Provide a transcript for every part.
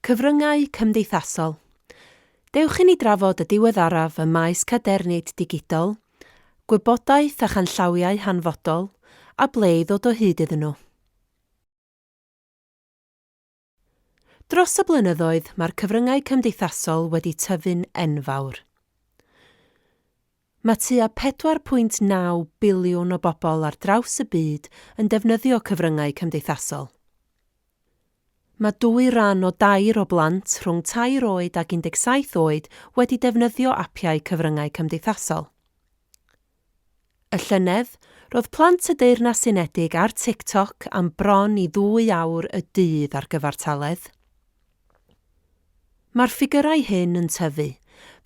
Cyfryngau cymdeithasol. Dewch i ni drafod y diweddaraf ym maes cadernid digidol, gwybodaeth a chanllawiau hanfodol, a ble i ddod o hyd iddyn nhw. Dros y blynyddoedd, mae'r cyfryngau cymdeithasol wedi tyfu'n enfawr. Mae tua 4.9 biliwn o bobl ar draws y byd yn defnyddio cyfryngau cymdeithasol. Mae dwy ran o dair o blant rhwng tair oed ac 17 oed wedi defnyddio apiau cyfryngau cymdeithasol. Y llynedd, roedd plant y Deyrnas Unedig ar TikTok am bron i ddwy awr y dydd ar gyfartaledd. Mae'r ffigyrau hyn yn tyfu,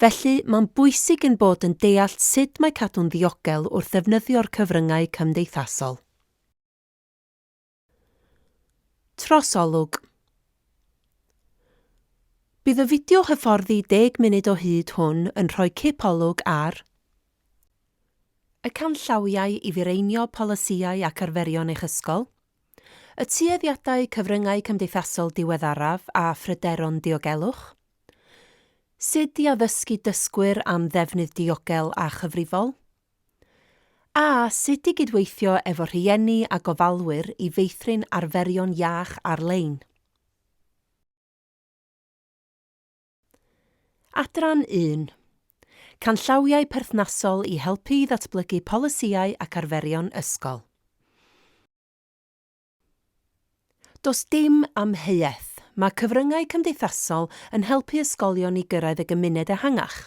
felly mae'n bwysig ein bod yn deall sut mae cadw'n ddiogel wrth ddefnyddio'r cyfryngau cymdeithasol. Trosolwg Bydd y fideo hyfforddi deg munud o hyd hwn yn rhoi cip olwg ar y canllawiau i fireinio polisïau ac arferion eich ysgol, y tueddiadau cyfryngau cymdeithasol diweddaraf a phryderon diogelwch, sut i addysgu dysgwyr am ddefnydd diogel a chyfrifol, a sut i gydweithio efo rhieni a gofalwyr i feithrin arferion iach ar-lein. Adran 1. Canllawiau perthnasol i helpu i ddatblygu polisïau ac arferion ysgol. Does dim amheuaeth, mae cyfryngau cymdeithasol yn helpu ysgolion i gyrraedd y gymuned ehangach.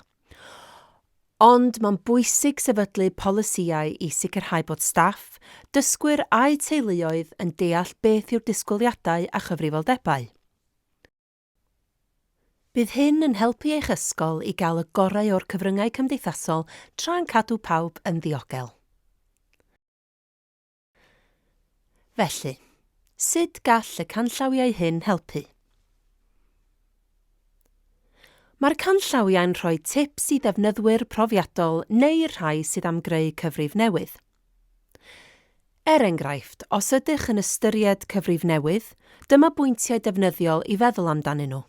Ond mae'n bwysig sefydlu polisïau i sicrhau bod staff, dysgwyr a'u teuluoedd yn deall beth yw'r disgwyliadau a chyfrifoldebau. Bydd hyn yn helpu eich ysgol i gael y gorau o'r cyfryngau cymdeithasol tra'n cadw pawb yn ddiogel. Felly, sut gall y canllawiau hyn helpu? Mae'r canllawiau'n rhoi tips i ddefnyddwyr profiadol neu'r rhai sydd am greu cyfrif newydd. Er enghraifft, os ydych yn ystyried cyfrif newydd, dyma bwyntiau defnyddiol i feddwl amdanyn nhw.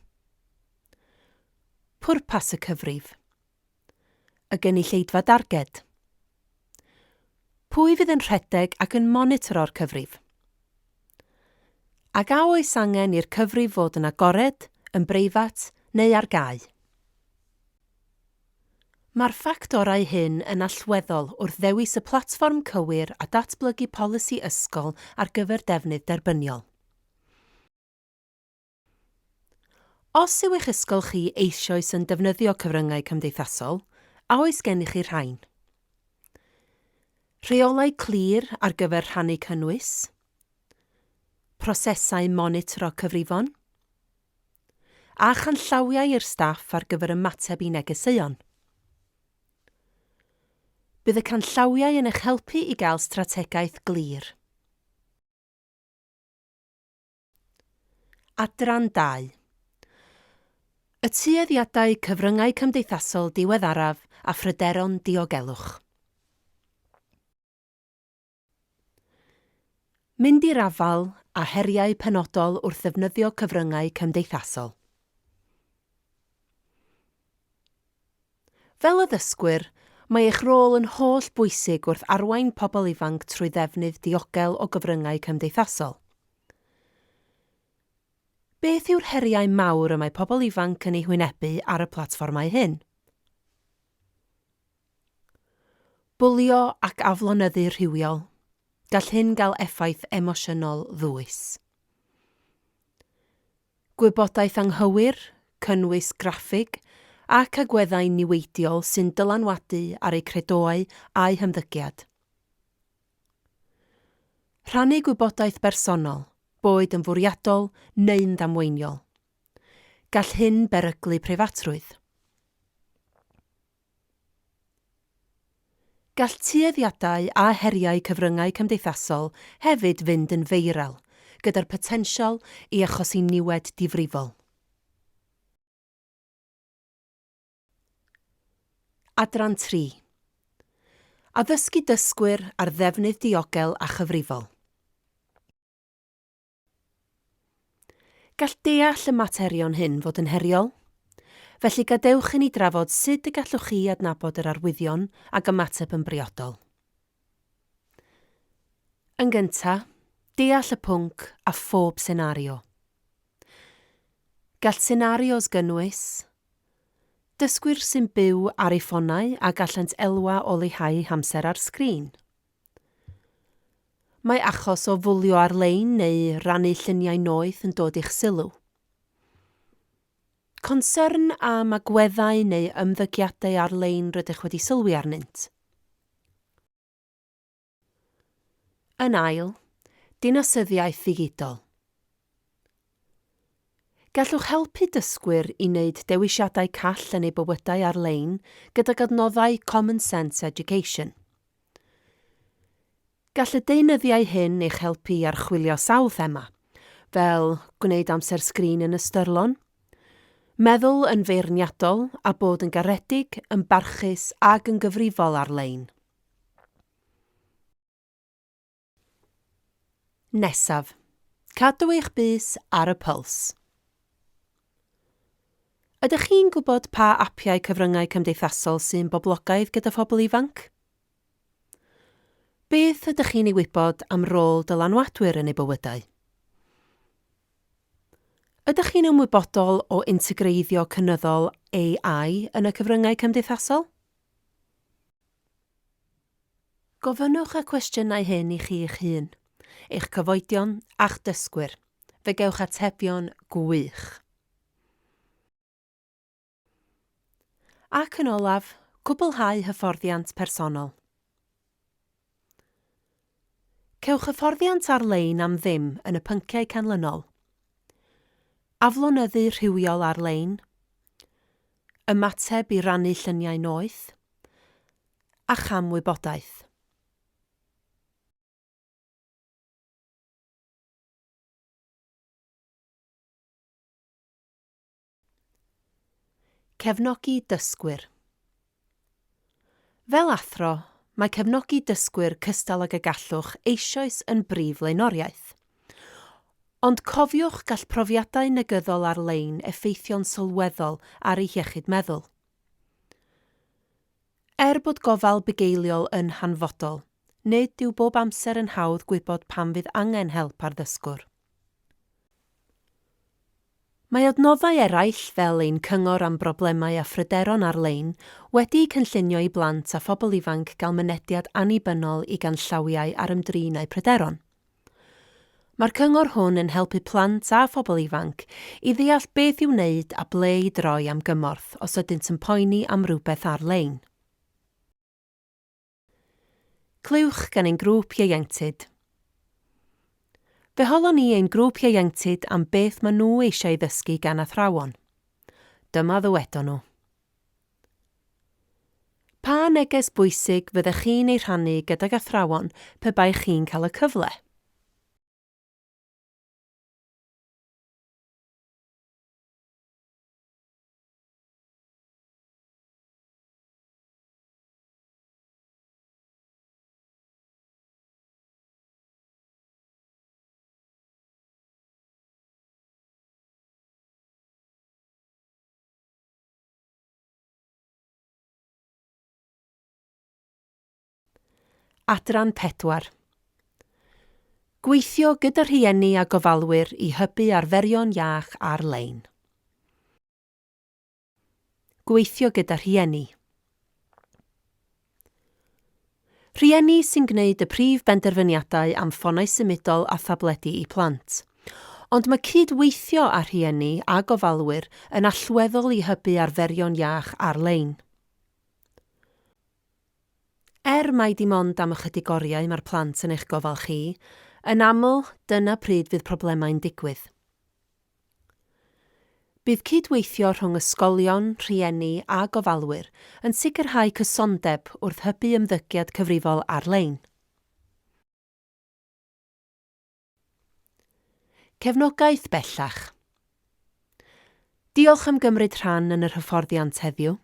Pwrpas y cyfrif. Y gynulleidfa darged. Pwy fydd yn rhedeg ac yn monitoro'r cyfrif? Ac a oes angen i'r cyfrif fod yn agored, yn breifat neu ar gau? Mae'r ffactorau hyn yn allweddol wrth ddewis y platfform cywir a datblygu polisi ysgol ar gyfer defnydd derbyniol. Os yw eich ysgol chi eisoes yn defnyddio cyfryngau cymdeithasol, a oes gennych chi rhain? Rheolau clir ar gyfer rhannu cynnwys? Prosesau monitro cyfrifon? A chanllawiau i'r staff ar gyfer ymateb i negeseuon. Bydd y canllawiau yn eich helpu i gael strategaeth glir. Adran 2. Y tueddiadau cyfryngau cymdeithasol diweddaraf a phryderon diogelwch. Mynd i'r afael â heriau penodol wrth ddefnyddio cyfryngau cymdeithasol. Fel addysgwyr, mae eich rôl yn holl bwysig wrth arwain pobl ifanc trwy ddefnydd diogel o gyfryngau cymdeithasol. Beth yw'r heriau mawr y mae pobl ifanc yn eu hwynebu ar y platfformau hyn? Bwlio ac aflonyddu rhywiol, gall hyn gael effaith emosiynol ddwys. Gwybodaeth anghywir, cynnwys graffig ac agweddau niweidiol sy'n dylanwadu ar eu credoau a'u hymddygiad. Rhannu gwybodaeth bersonol, boed yn fwriadol neu'n ddamweiniol. Gall hyn beryglu preifatrwydd. Gall tueddiadau a heriau cyfryngau cymdeithasol hefyd fynd yn feiral, gyda'r potensial i achosi niwed difrifol. Adran 3. Addysgu dysgwyr ar ddefnydd diogel a chyfrifol. Gall deall y materion hyn fod yn heriol. Felly gadewch i ni drafod sut y gallwch chi adnabod yr arwyddion ac ymateb yn briodol. Yn gynta, deall y pwnc a phob senario. Gall senarios gynnwys, Dysgwyr sy'n byw ar eu ffonau a gallant elwa o leihau hamser ar sgrin. Mae achos o fwlio ar-lein neu rannu lluniau noeth yn dod i'ch sylw. Concern am agweddau neu ymddygiadau ar-lein rydych wedi sylwi arnynt. Yn ail, dinasyddiaeth ddigidol. Gallwch helpu dysgwyr i wneud dewisiadau call yn eu bywydau ar-lein gydag adnoddau Common Sense Education. Gall y deunyddiau hyn eich helpu i archwilio sawl thema, fel gwneud amser sgrin yn ystyrlon, meddwl yn feirniadol a bod yn garedig, yn barchus ac yn gyfrifol ar-lein. Nesaf. Cadw eich bys ar y pyls. Ydych chi'n gwybod pa apiau cyfryngau cymdeithasol sy'n boblogaidd gyda phobl ifanc? Beth ydych chi'n ei wybod am rôl dylanwadwyr yn eu bywydau? Ydych chi'n ymwybodol o integreiddio cynyddol AI yn y cyfryngau cymdeithasol? Gofynnwch y cwestiynau hyn i chi eich hun, eich cyfoedion a'ch dysgwyr. Fe gewch atebion gwych. Ac yn olaf, cwblhau hyfforddiant personol. Cewch hyfforddiant ar-lein am ddim yn y pynciau canlynol, Aflonyddu rhywiol ar-lein, Ymateb i rannu lluniau noeth, a Cham wybodaeth. Cefnogi dysgwyr Fel athro, mae cefnogi dysgwyr cystal ag y gallwch eisoes yn brif flaenoriaeth. Ond cofiwch, gall profiadau negyddol ar-lein effeithio'n sylweddol ar eu hiechyd meddwl. Er bod gofal bugeiliol yn hanfodol, nid yw bob amser yn hawdd gwybod pan fydd angen help ar ddysgwr. Mae adnoddau eraill fel ein cyngor am broblemau a phryderon ar-lein wedi'u cynllunio i blant a phobl ifanc gael mynediad annibynnol i ganllawiau ar ymdrin â'u pryderon. Mae'r cyngor hwn yn helpu plant a phobl ifanc i ddeall beth i'w wneud a ble i droi am gymorth os ydynt yn poeni am rywbeth ar-lein. Clywch gan ein grŵp ieuenctid. Fe holon ni ein grŵp ieuenctid am beth maen nhw eisiau ei ddysgu gan athrawon. Dyma ddywedon nhw. Pa neges bwysig fyddech chi'n ei rhannu gydag athrawon pe baech chi'n cael y cyfle? Adran 4. Gweithio gyda rhieni a gofalwyr i hybu arferion iach ar-lein. Gweithio gyda rhieni. Rhieni sy'n gwneud y prif benderfyniadau am ffonau symudol a thabledi i plant. Ond mae cyd-weithio â rhieni a gofalwyr yn allweddol i hybu arferion iach ar-lein. Er mai dim ond am ychydig oriau mae'r plant yn eich gofal chi, yn aml, dyna pryd fydd problemau'n digwydd. Bydd cyd-weithio rhwng ysgolion, rhieni a gofalwyr yn sicrhau cysondeb wrth hybu ymddygiad cyfrifol ar-lein. Cefnogaeth bellach. Diolch am gymryd rhan yn yr hyfforddiant heddiw.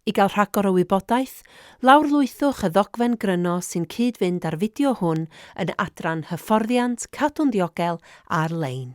I gael rhagor o wybodaeth, lawrlwythwch y ddogfen gryno sy'n cyd-fynd â'r fideo hwn yn adran Hyfforddiant Cadw'n Ddiogel ar-lein.